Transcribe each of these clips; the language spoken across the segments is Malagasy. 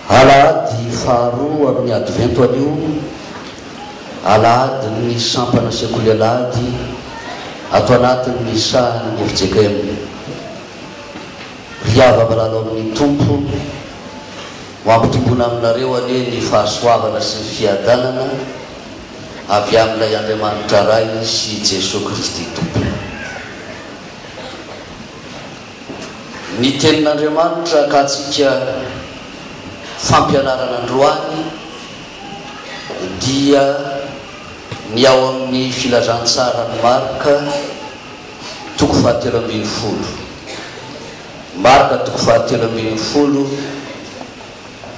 Alahady faharoa amin'ny Advento anio, Alahadin'ny Sampana Sekoly Alahady ato anatin'ny sahan'ny fjkm. Ry havabalahy ao amin'ny Tompo, Ho ampitombona aminareo anie ny fahasoavana sy ny fiadanana avy amin'ilay Andriamanitra Ray sy Jesoa Kristy Tompo. Ny Tenin'Andriamanitra akantsika fampianarana androany dia ny ao amin'ny Filazantsaran'i Marka, toko fahatelo ambin'ny folo. Marka toko fahatelo ambin'ny folo,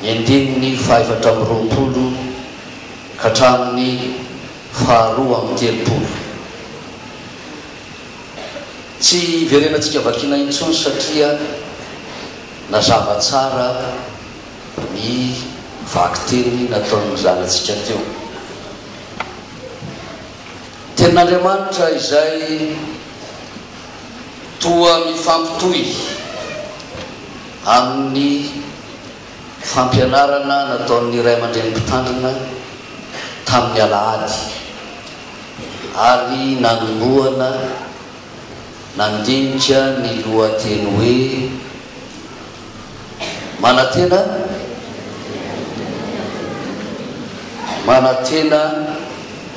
ny andininy fahefatra amby roapolo ka hatramin'ny faharoa amby telopolo. Tsy iverenantsika vakiana intsony satria nazava tsara ny vakiteny nataon'ny zanantsika teo. Tenin'Andriamanitra izay toa mifampitohy amin'ny fampianarana nataon'ny ray aman-dreny Mpitandrina tamin'ny alahady ary nanombohana nandinika ny lohateny hoe, Manantena manantena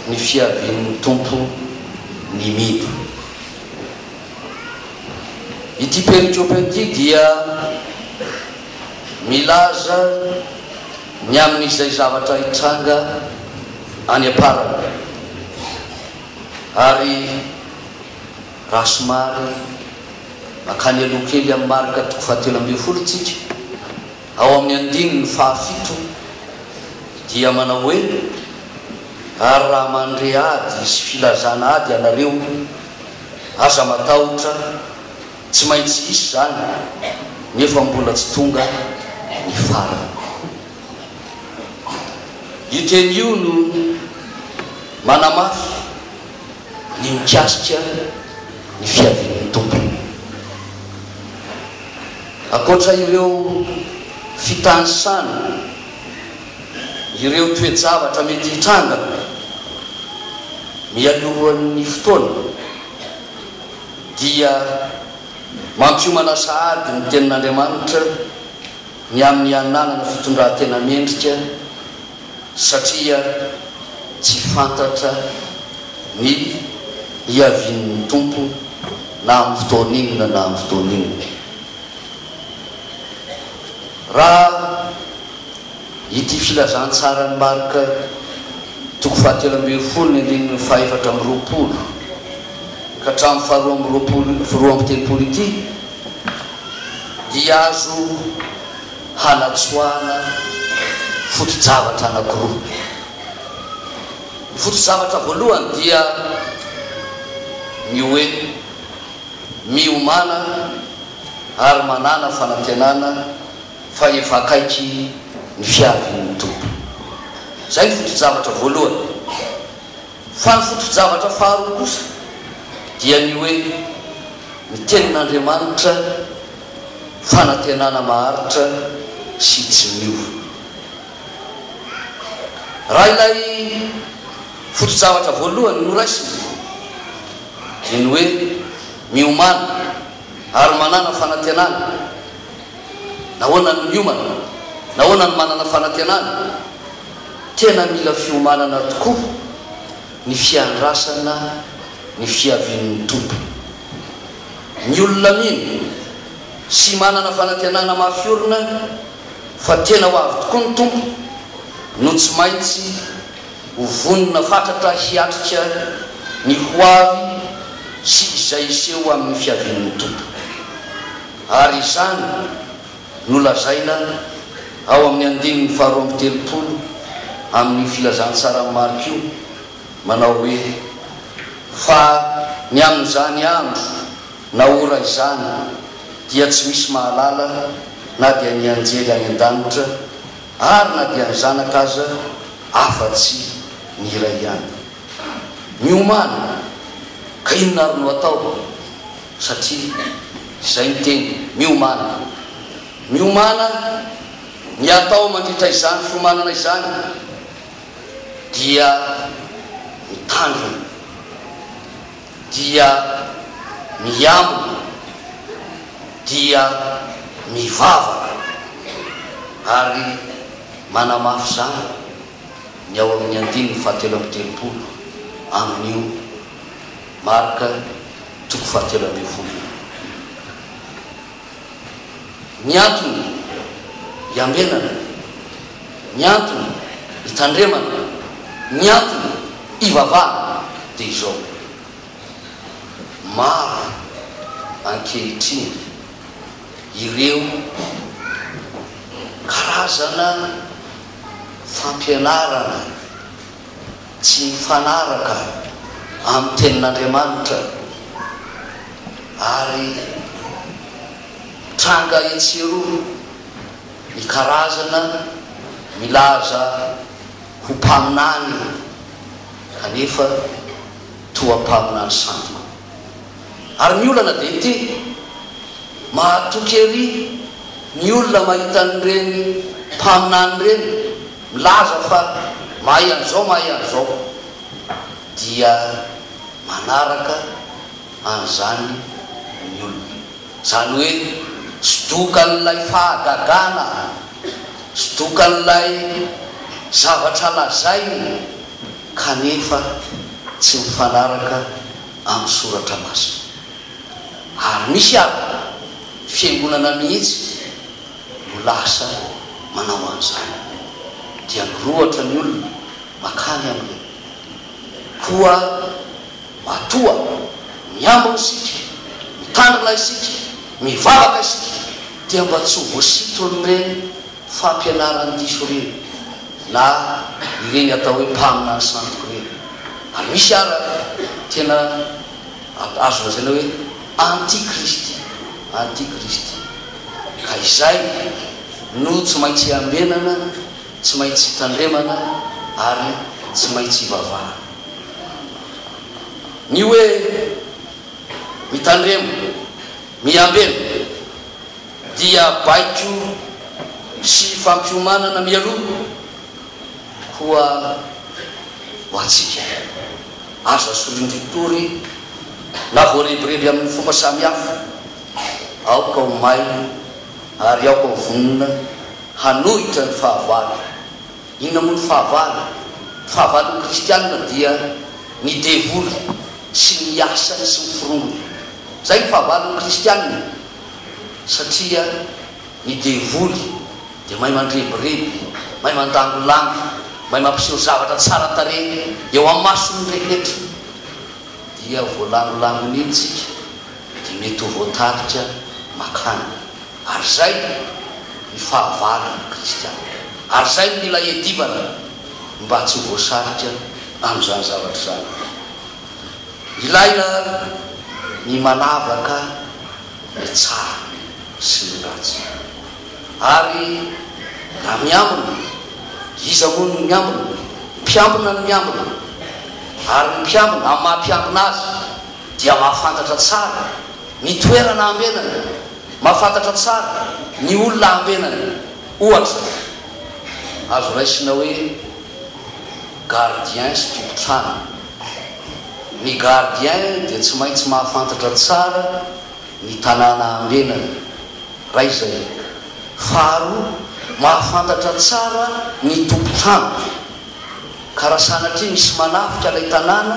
ny fiavian'ny Tompo ny Mido. Ity perikopa ity dia milaza ny amin'izay zavatra hitranga any am-parany ary. Raha somary mankany aloha kely amin'ny marika toko fahatelo ambin'ny folo isika, ao amin'ny andininy fahafito, dia manao hoe, Ary raha mandre ady sy filazana ady ianareo, aza matahotra, tsy maintsy hisy izany, nefa mbola tsy tonga ny farany. Io teny io no manamafy. ny mikasika ny fiavian'ny Tompo. Ankoatra ireo fitanisana ireo toe-javatra mety hitranga mialohan'ny fotoana, dia mampiomana sahady ny Tenin'Andriamanitra ny amin'ny hananana fitondran-tena mendrika, satria tsy fantatra ny hiavian'ny Tompo na amin'ny fotoana inona na amin'ny fotoana inona. Raha ity filazantsaran'i Marka toko fahatelo ambin'ny folo ny andininy fahefatra amby roapolo ka hatramin'ny faharoa amby roapolo roa amby telopolo ity dia azo hanatsoahana foto-javatra anankiroa. Ny foto-zavatra voalohany dia ny hoe miomàna ary manàna fanantenana fa efa akaiky ny fiavian'ny Tompo. Izay ny foto-javatra voalohany. Fa ny foto-javatra faharoa kosa dia ny hoe ny Tenin'Andriamanitra fanantenana maharitra sy tsy miova. Raha ilay foto-javatra voalohany no raisina dia ny hoe miomana ary manana fanantenana. Nahoana ny miomana? Nahoana ny manana fanantenana? Tena mila fiomanana tokoa ny fiandrasana ny fiavian'ny Tompo. Ny olona mino sy manana fanantenana mafy orina fa tena ho avy tokoa ny Tompo no tsy maintsy ho vonona fatratra hiatrika ny ho avy sy izay hiseho amin'ny fiavian'ny Tompo. Ary izany no lazaina ao amin'ny andininy faharoa amby telopolo amin'io Filazantsaran'i Marka io, manao hoe, Fa ny amin'izany andro na ora izany dia tsy misy mahalala na dia ny anjely any an-danitra ary na dia ny Zanaka aza afa-tsy ny iray ihany. Miomàna, ka inona àry no atao? Satria izay ny teny, miomàna. Miomàna, ny atao mandritra izany fiomanana izany dia mitandrina, dia miambina, dia mivavaka, ary manamafy izany ny ao amin'ny andininy fahatelo amby telopolo amin'io Marka toko fahatelo ambin'ny folo Ny antony iambenana, ny antony itandremana, ny antony ivavahana dia izao, Maro ankehitriny ireo karazana fampianarana, Tsy mifanaraka amin'ny Tenin'Andriamanitra ary tranga etsy eroa ny karazana milaza ho mpaminany kanefa toa mpaminany sandoka. Ary ny olana dia ity, mahatoky ery ny olona mahita an'ireny mpaminany ireny. Milaza fa mahay an'izao mahay an'izao dia manaraka an'izany ny olona. Izany hoe sodokan'ilay fahagagana, sodokan'ilay zavatra lazainy kanefa tsy mifanaraka amin'ny soratra masina. Ary misy ary fiangonana mihitsy. no lasa manao an'izany dia mirohotra ny olona makany aminy koa matoa miambina isika, mitandrina isika, mivavaka isika dia mba tsy ho voasitron'ireny fampianaran'ny diso ireny na ireny atao hoe mpaminany sandoka ireny ary misy ara tena Ant azo lazaina hoe antikristy, antikristy. Ka izay no tsy maintsy iambenana, tsy maintsy itandremana ary tsy maintsy ivavahana. Ny hoe mitandrema, miambena dia baiko sy fampiomanana mialoha, koa ho antsika. Aza asorin-dritoa re na voarebireby amin'ny fomba samihafa. Aoka ho mailo ary aoka ho vonona hanohitra ny fahavalo. Inona moa ny fahavalo? Ny fahavalon'ny kristiana dia ny devoly sy ny asany sy ny forongony. Izay ny fahavalon'ny kristiana satria ny devoly dia mahay mandrebireby, mahay mandangolango, mahay mampiseho zavatra tsara tarehy eo amason'ny rehetra, dia voalangolangon'iny isika dia mety ho voatarika makany. Ary izay ny fahavarany kristiana. Ary izay no mila iadivana mba tsy ho voasarika amin'izany zavatra izany. Ilaina ny manavaka ny tsara sy ny ratsy. Ary na miambina, iza moa no miambina? Ny mpiambina no miambina. Ary ny mpiambina, amin'ny maha mpiambina azy, dia mahafantatra tsara ny toerana ambenany, mahafantatra tsara ny olona ambenany. Ohatra, azo raisina hoe gardien sy tompon-trano. Ny gardien dia tsy maintsy mahafantatra tsara. ny tanàna ambenany. Ray izay. Faharoa, mahafantatra tsara ny tompon-trano, ka raha sanatria misy manafika ilay tanàna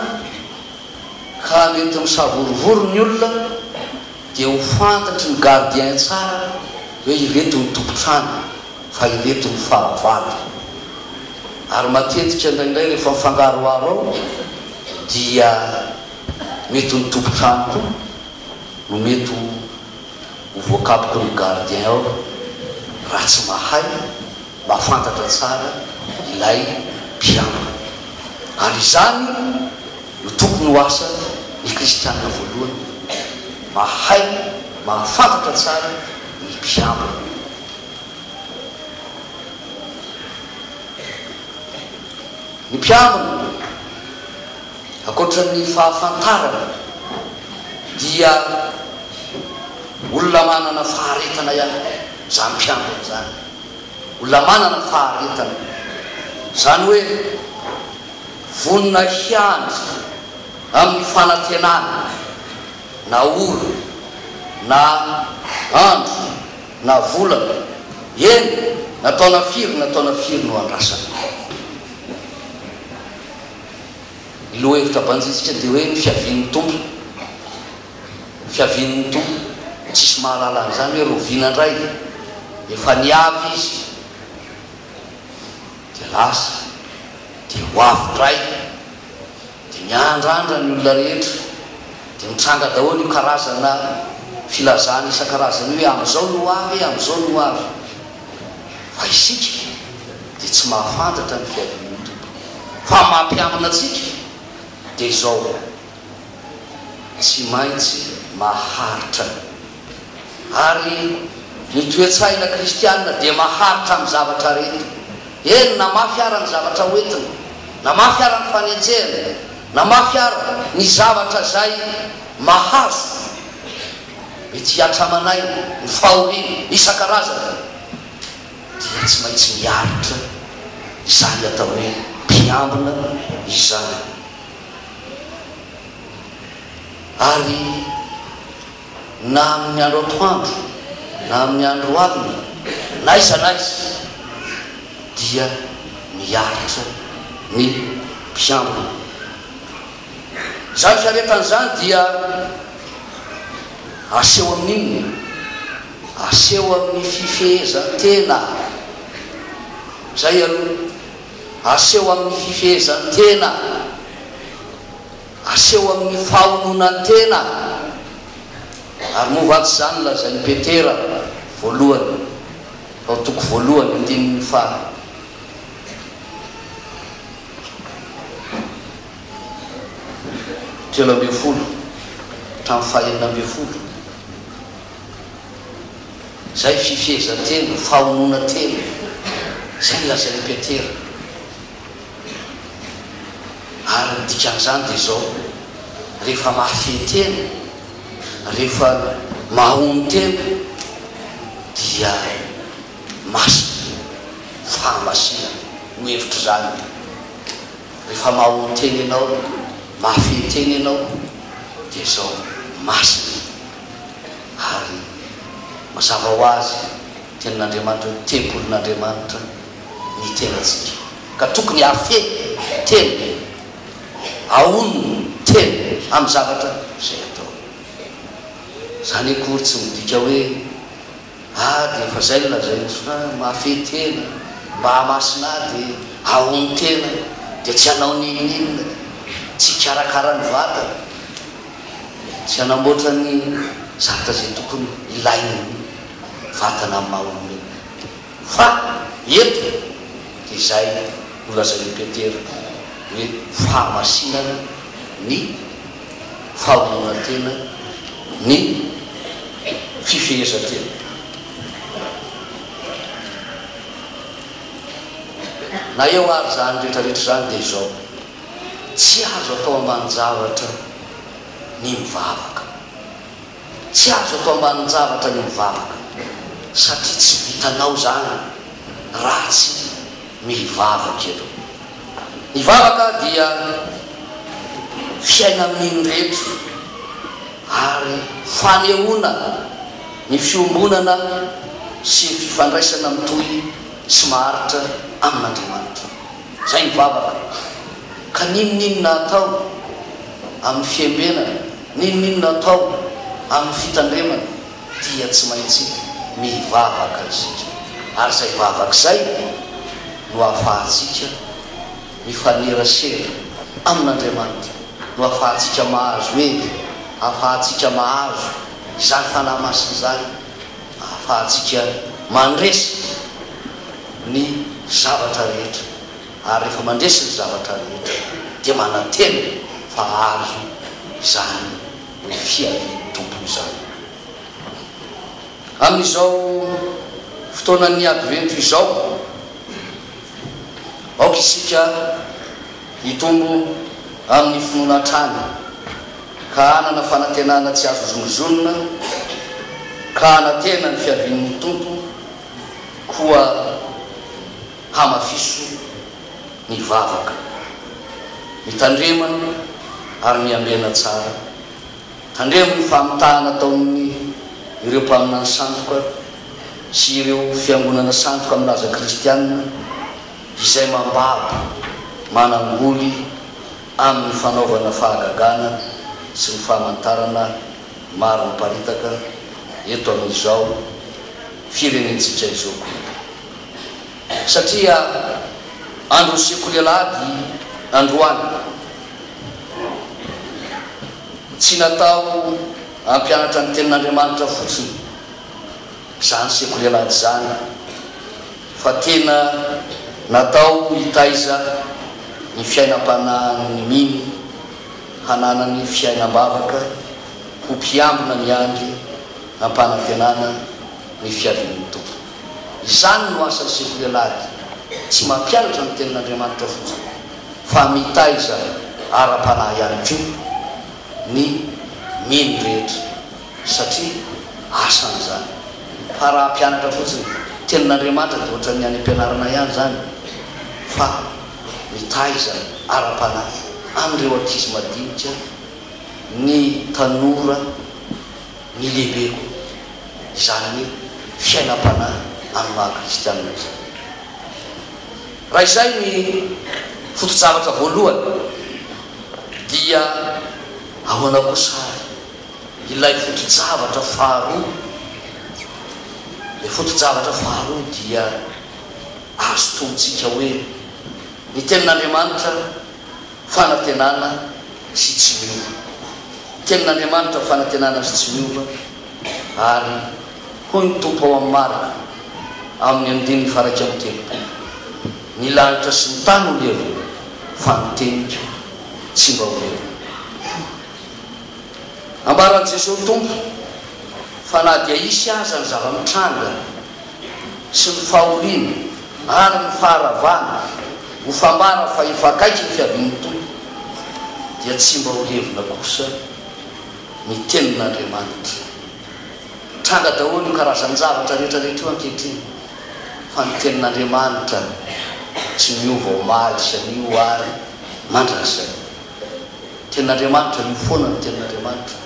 ka mety misavorovoro ny olona dia ho fantatry ny gardien tsara hoe ireto ny tompon-trano fa ireto ny fahavalo. Ary matetika indraindray rehefa mifangaroharo ao dia mety ny tompon-trano koa no mety ho ho voakapoko ny gardien ao raha tsy mahay mahafantatra tsara ilay mpiambina. Ary izany no tokony ho asa ny kristianina voalohany, mahay mahafantatra tsara ny mpiambina. Ny mpiambina. Ankoatra ny fahafantarana dia olona manana faharetana ihany koa izany mpiambina izany. Olona manana faharetana, izany hoe vonona hiandry amin'ny fanantenana na ora na andro na volana, eny na taona firy na taona firy no andrasana. Ny lohahevitra banjintsika dia hoe ny fiavian'ny Tompo. Fiavian'ny Tompo. Tsisy mahalala an'izany hoe roviana indray. Efa niavy Izy, dia lasa, dia ho avy indray. Dia miandrandra ny olona rehetra. Dia mitranga daholo io karazana filazana isan-karazany io hoe amin'izao no ho avy e, amin'izao no ho avy. Fa isika dia tsy mahafantatra ny fiavian'ny Tompo. Fa ny mampiambina antsika dia izao, tsy maintsy maharitra. Ary ny toe-tsaina kristiana dia maharitra amin'ny zavatra rehetra. Eny, na mafy ara ny zavatra hoentiny, na mafy ara ny fanenjehana, na mafy ara ny zavatra izay mahazo. ny tsy hatramanay, ny fahoriana isan-karazany dia tsy maintsy miaritra izany atao hoe mpiambina izany. Ary na amin'ny andro atoandro na amin'ny andro alina, n'aiza n'aiza dia miaritra ny mpiambina. Izany fiaretana izany dia aseho amin'ny inona? Aseho amin'ny fifehezan-tena. Izay aloha. Aseho amin'ny fifehezan-tena. Aseho amin'ny fahononan-tena. Ary moa va tsy izany lazain'i Petera voalohany, ao toko voalohany, andininy faha. telo ambin'ny folo hatramin'ny fahenina ambin'ny folo, izay fifehezan-tena, fahononan-tena, izay nolazain'i Petera. Ary ny dikan'izany dia izao, rehefa mahafehy tena, rehefa mahono tena, dia masina, fahamasinana, no hevitr'izany. rehefa mahaoa tena ianao, mahafehy tena ianao dia izao, masina ary mazava ho azy tenin'Andriamanitra hoe tempolin'Andriamanitra ny tenantsika ka tokony hahafehy tena, hahono tena amin'ny zavatra izay atao. Izany akory tsy midika hoe. Ady efa zay ny lazainy fa mahafehy tena, Mahamasina ady aony tena dia tsy hanao n'inon'inona, tsy hikarakara ny vatana, tsy hanamboatra ny zavatra izay tokony hilaina ny vatana amin'ny maha olombelona. Fa eto dia izay nolazain'i Petera hoe fahamasinana ny. fahaonatena ny fifehezan-tena na eo ary izany rehetra rehetra izany dia izao, tsy azo atao ambanin-javatra ny mivavaka. Tsy azo atao ambanin-javatra ny mivavaka satria tsy vitanao izany raha tsy mivavaka ianao. Ny vavaka dia fiaina amin'iny rehetra ary fanehoana ny fiombonana sy ny fifandraisana mitohy sy maharitra amin'Andriamanitra. Izay ny vavaka ka n'inon'inona atao amin'ny fiembenana. N'inon'inona atao amin'ny fitandremana dia tsy maintsy mivavaka isika, ary izay vavaka izay no ahafahantsika mifanerasera amin'Andriamanitra, no ahafahantsika mahazo hery, ahafahantsika mahazo izany Fanahy Masina izany, ahafahantsika mandresy ny zavatra rehetra. ary rehefa mandresy ny zavatra rehetra dia manantena fa hahazo izany ny fiavian'ny Tompo izany. Amin'izao fotoanan'ny Advento izao, aoka isika hitombo amin'ny finoana hatrany ka hanana fanantenana tsy azo zonizonina ka hanantena ny fiavian'ny Tompo koa. Hamafiso ny vavaka, mitandrema ary miambena tsara. Tandremo ny famitahana ataon' ireo mpaminany sandoka sy ireo fiangonana sandoka milaza kristiana izay mambabo manangoly amin' ny fanaovana fahagagana sy ny famantarana maro miparitaka eto amin' izao firenentsika izao koa. satria andron'ny sekoly alahady androany. Tsy natao hampianatra ny tenin'Andriamanitra fotsiny izany sekoly alahady izany fa tena natao hitaiza ny fiainam-panahin'ny mino hananany fiainam-bavaka ho mpiambina miandry am-panantenana ny fiavian'ny Tompo. Izany no asan'ny sekolialahy, tsy mampianatra ny Tenin'Andriamanitra fotsiny, fa mitaiza ara-panahy ihany koa ny mino rehetra, satria asany izany. Fa raha hampianatra fotsiny Tenin'Andriamanitra, dia hoatran'ny any am-pianarana ihany izany, fa mitaiza ara-panahy an'ireo ankizy madinika, ny tanora Ny lehibe koa, izany hoe fiainam-panahy amin'ny maha kristianina izany. Raha izay ny foto-javatra voalohany, dia ahoana kosa ary ilay foto-javatra faharoa? Ilay foto-javatra faharoa dia azo tonontsika hoe, Ny Tenin'Andriamanitra, Fanantenana sy tsy miova. Tenin'Andriamanitra fanantenana sy tsy miova, ary hoy ny Tompo ao amin'ny Marka, amin'ny andininy faharaika amby telopolo, Ny lanitra sy ny tany ho levona, fa ny teniko tsy mba ho levona. Ambaran'i Jesoa Tompo fa na dia hisy aza ny zava-mitranga, sy ny fahoriana ary ny faharavana ho fambara fa efa akaiky ny fiavian'ny Tompo, dia tsy mba ho levona kosa ny Tenin'Andriamanitra. Tranga daholo io karazan-javatra rehetrarehetra io ankehitriny, fa ny Tenin'Andriamanitra tsy miova omaly sy anio ary mandrakizay. Tenin'Andriamanitra io foana ny Tenin'Andriamanitra,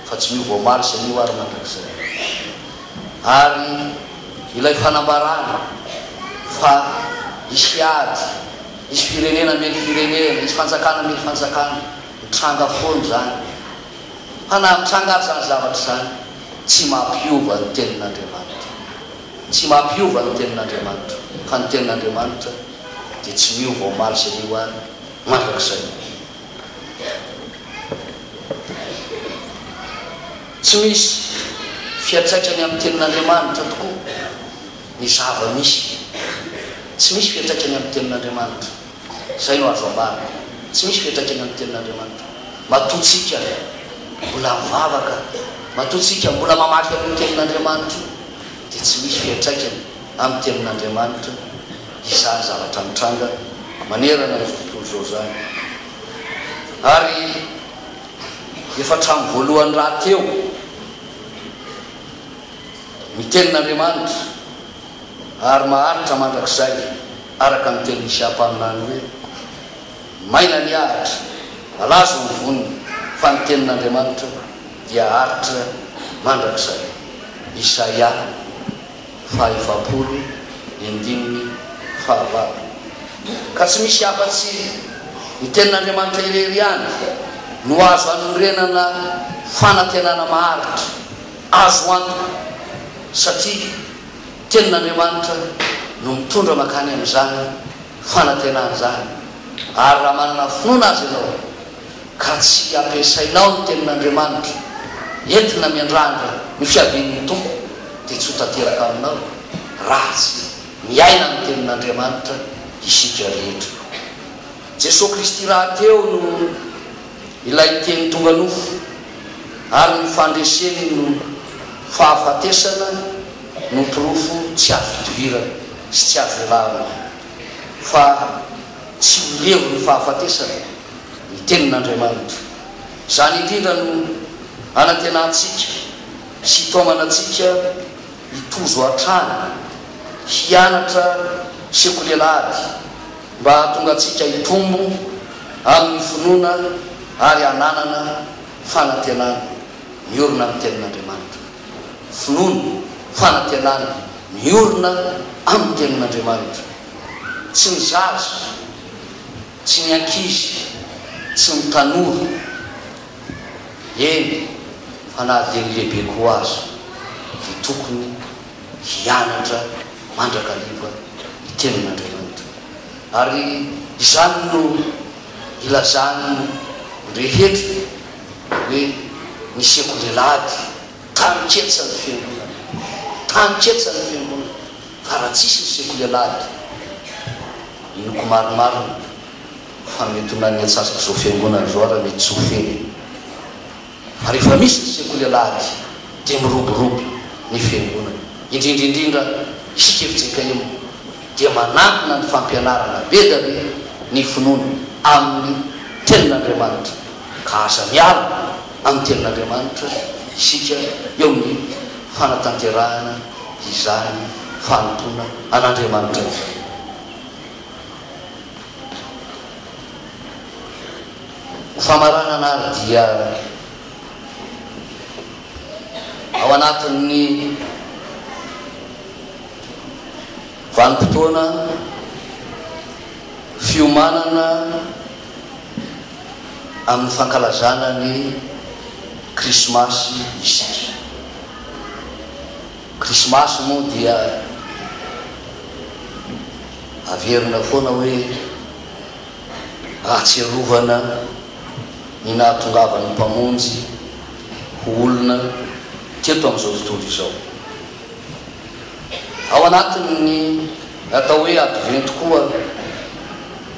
fa tsy miova omaly sy anio ary mandrakizay. Ary ilay fanambarana fa hisy ady, hisy firenena hamely firenena, hisy fanjakana hamely fanjakana, mitranga foana izany. Fa na mitranga ary izany zavatra izany, tsy mampiova ny Tenin'Andriamanitra. Tsy mampiova ny Tenin'Andriamanitra, fa ny Tenin'Andriamanitra dia tsy miova omaly sy anio ary mandrakizay. Tsy misy fiantraikany amin'ny Tenin'Andriamanitra tokoa ny zava-misy. Tsy misy fiantraikany amin'ny Tenin'Andriamanitra. Izay no azo ambara. Tsy misy fiantraikany amin'ny Tenin'Andriamanitra. Matoa tsika mbola mivavaka, matoa tsika mbola mamaky an'io Tenin'Andriamanitra io, dia tsy misy fiantraikany amin'ny Tenin'Andriamanitra izany zavatra mitranga manerana izao tontolo izao izany. Ary. efa hatramin'ny voalohany rahateo ny tenin'Andriamanitra ary maharitra mandrakizay araka ny tenin'i Shapana ny hoe, Maina ny ahitra, malazo ny voniny fa ny tenin'Andriamanitra dia aritra mandrakizay. Isaia. fahefapolo ny andininy fahavalo. Ka tsy misy afa-tsy ny Tenin'Andriamanitra irery ihany no azo anorenana fanantenana maharitra, azo antoka, satria Tenin'Andriamanitra no mitondra mankany amin'izany fanantenana izany. Ary raha manana finoana azy ianao, ka tsy ampiasainao ny tenin'Andriamanitra entina miandrandra ny fiavian'ny Tompo dia tsy ho tanteraka aminao raha tsy miaina ny tenin'Andriamanitra isika rehetra. Jesoa Kristy rahateo no ilay Teny tonga nofo ary ny fandreseny no fahafatesana no porofo tsy azo idivirana sy tsy azo ialana fa tsy ho levon'ny fahafatesana. ny Tenin'Andriamanitra. Izany indrindra no anantenantsika sy itaomana antsika hitozo hatrany, hianatra sy ho lela ady mba hahatonga antsika hitombo amin'ny finoana ary hananana fanantenana miorina amin'ny Tenin'Andriamanitra. Finoana, fanantenana miorina amin'ny Tenin'Andriamanitra. Tsy ny zaza. Tsy ny ankizy, tsy ny tanora, eny fa na dia ny lehibe koa aza dia tokony hianatra mandrakariva ny tenin'Andriamanitra. Ary izany no ilazan'ny rehetra hoe ny sekoly Alahady, taninketsa ny fiangonana, taninketsa ny fiangonana. Fa raha tsisy ny sekoly alahady, inoako marimarina fa mety ho nan'ny atsasak'izao fiangonana izao ary mety tsy ho feno. Fa rehefa misy ny sekoly alahady dia miroborobo ny fiangonana, indrindra indrindra isika fjkm dia manantona ny fampianarana be da be ny finoana amin'ny tenin'Andriamanitra ka aza miala amin'ny tenin'Andriamanitra isika eo amin'ny fanatanterahana izany fanompoana an'Andriamanitra izany. Ho famaranana ary dia ao anatin'ny vanim-potoana fiomanana amin'ny fankalazana ny Krismasy isika. Krismasy moa dia averina foana hoe ahatsiarovana ny nahatongavan'ny Mpamonjy ho olona teto amin'izao tontolo izao. Ao anatin'ny atao hoe Advento koa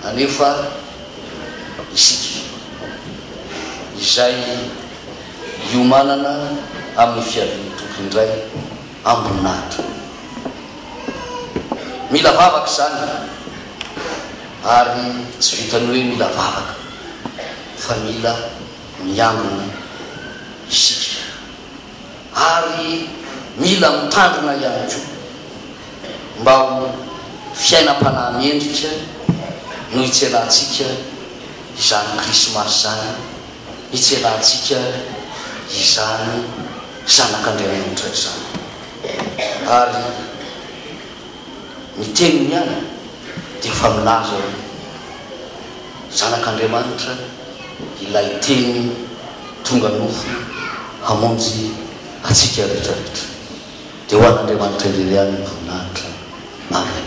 anefa isika, izay. hiomanana amin'ny fiavian'ny Tompo indray amboninahitra. Mila vavaka izany, ary tsy vitan'ny hoe mila vavaka, fa mila miangona isika, ary mila mitandrina ihany koa, mba ho fiainam-panahy mendrika no hitsenahantsika izany Krismasy izany hitselantsika izany Zanak'Andriamanitra izany. Ary ny Teniny ihany dia efa milaza hoe, Zanak'Andriamanitra ilay Teny tonga nofo hamonjy antsika rehetra rehetra. Dia ho an'Andriamanitra irery ihany ny voninahitra. Amen.